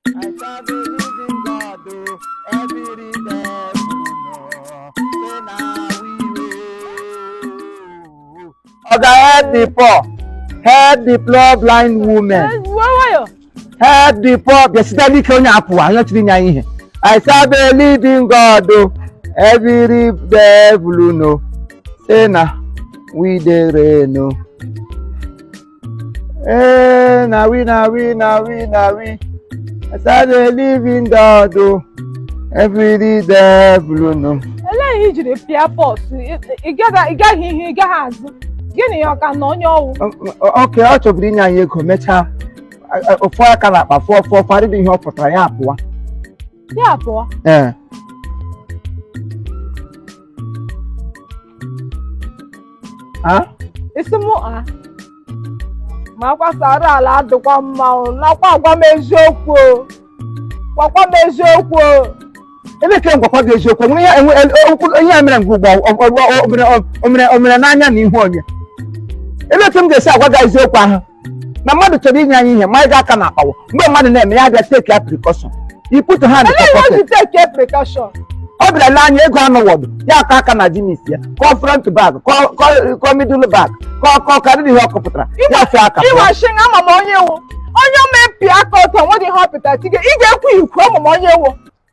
I serve a living God, oh, every day, oh, say na we will. Oga help the poor, help the poor blind woman, Gbuo nwayọ. help the poor bịasite n'ike onye apụwa anyị chiri nya ihe. I serve a living God, oh, every devil no, say na we dey reign, oh. Hey, na we, na we, na we, na we. I serve a living God, oh, every devil know. Elee ihe i jiri pịa pause? Ị gaghị ihu, ị gaghị azụ. Gịnị ya ọka na onye ọ wụ? Oke, ọ chọburu inye anyị ego, mechaa. Ọ fụọ aka na akpa fụọ fụọ, kwarịrị ihe ọ pụtara ya apụwa. ya pụọ ee a isi mụ a ma akwasara ala adịkwa mma o nakwa agwa m eziokwu o gwakwa m eziokwu o elee ka m gwakwa gị eziokwu nwere ya enwe el- okwu onye ya mere ngwa ugbu a ọ- ọ- ọ- o mere- o mere- o mere n'anya n'ihu onye elee ka m ga-esi agwa gị eziokwu ahụ na mmadụ chọrọ inye anyị ihe ma anyị ga-aka na akpawo mgbe mmadụ na-eme ya bịa take a precaution you put your hand in your pocket take a precaution ọ bịara nye anyị ego anụ wọdụ ya aka aka na jeans ya kọọ front bag kọọ middle bag kọọ kọọ karịrị ihe ọ kọpụtara ya fee aka ịwa shi na ama m onye ọ wụ onye omepịa aka ọtọ nwedị ihe ọ pụtara tige ị ga-ekwu ikwu ama m onye ọ wụ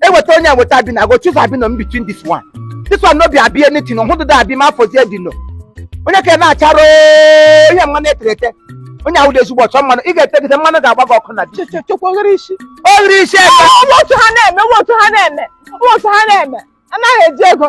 eweta onye eweta abi I go choose abi no in between this one this one no be abi anything no hụdụda abi ma afọ zie dị no onye ka na-achara ihe mmanụ e tere ete onye ahụ dị ezigbo ọcha mmanụ ị ga-etegide mmanụ ga-agba gị ọkụ na di chekwa oghere isi oghere isi ebe otu ha na-eme otu ha na-eme otu ha na-eme anaghị eji ego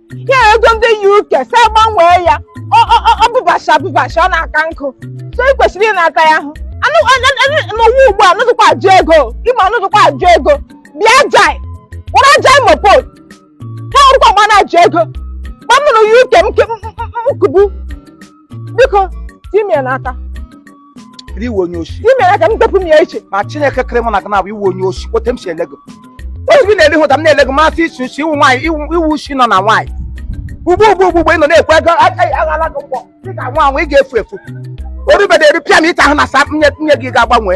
ya ego ndị UK si agbanwee ya ọ- ọ- ọ- ọ bụbacha bụbacha ọ na-aka nkụ so ị kwesịrị ị na-ata ya ahụ anụ anụ- anụ- n'ụwa ugbu a nụdụkwa ajụ ego ịma nụdụkwa ajụ ego bịa jai wara jai mopol ha ọrụkwa mgbe a na-ajụ ego gba m nụrụ ya UK m ke- m- m- m- m kubu biko ime ya n'aka ị wụ onye oshi ime ya ka m depụ m ya iche ma chineke kere mụ na gị naabọ ị wụ onye oshi otu m si ele gị otu gị na-ele hụta m na-ele gị masị isi oshi ị wụ nwaanyị ị wụ oshi nọ na nwaanyị ugbu ugbu ugbu ugbu ị nọ na-ekwe ego aghala gị mkpọ ị ga-anwụ anwụ ị ga-efu efu orubede erupịa m ịta ahụ na sa nye gị ga-agbanwe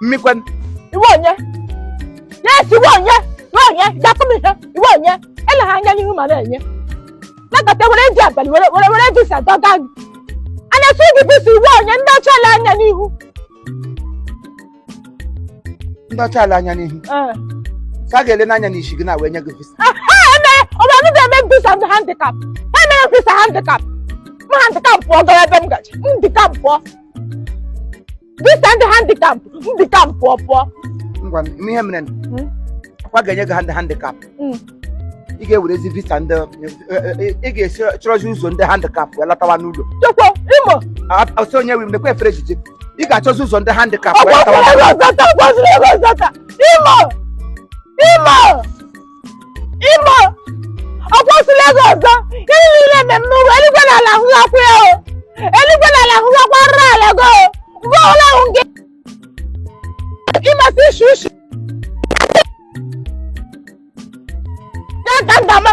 mmikwe ị wụ onye yes ị wụ onye ị wụ onye gwatụ m ihe ị wụ onye ele ha anya n'ihu ma na-enye nakọta were ji abalị were were were visa dọga gị a na-asị gị visa ị wụ onye ndị ọcha ele anya n'ihu ndị ọcha ala anya n'ihu ee sa ga-ele n'anya n'isi gị na wee nye gị visa ọ bụrụ ndị na-eme visa ndị handicap ha mere visa handicap ma handicap pụọ gara ebe m gaji handicap pụọ visa ndị handicap handicap pụọ pụọ ngwa m ihe mere Hmm? akwa ga-enye gị hand handicap Mm. ị ga-ewerezi visa ndị ị ga-esi chọrọzi ụzọ ndị handicap wee latawa n'ụlọ chekwa imo ọsọ onye wi m nekwa efere ejije ị ga-achọzi ụzọ ndị handicap wee ọgwọziri latawa ego zọta ọgwọziri ego zọta imo imo Imo ọ kwụsịla ego ọzọ ihe niile eme m n'ụwa eluigwe na ala hụghakwa ya o eluigwe na ala hụghakwa nra ala go mgbe ọbụla hụ gị ịmasị ishi ishi ya ka m ga-ama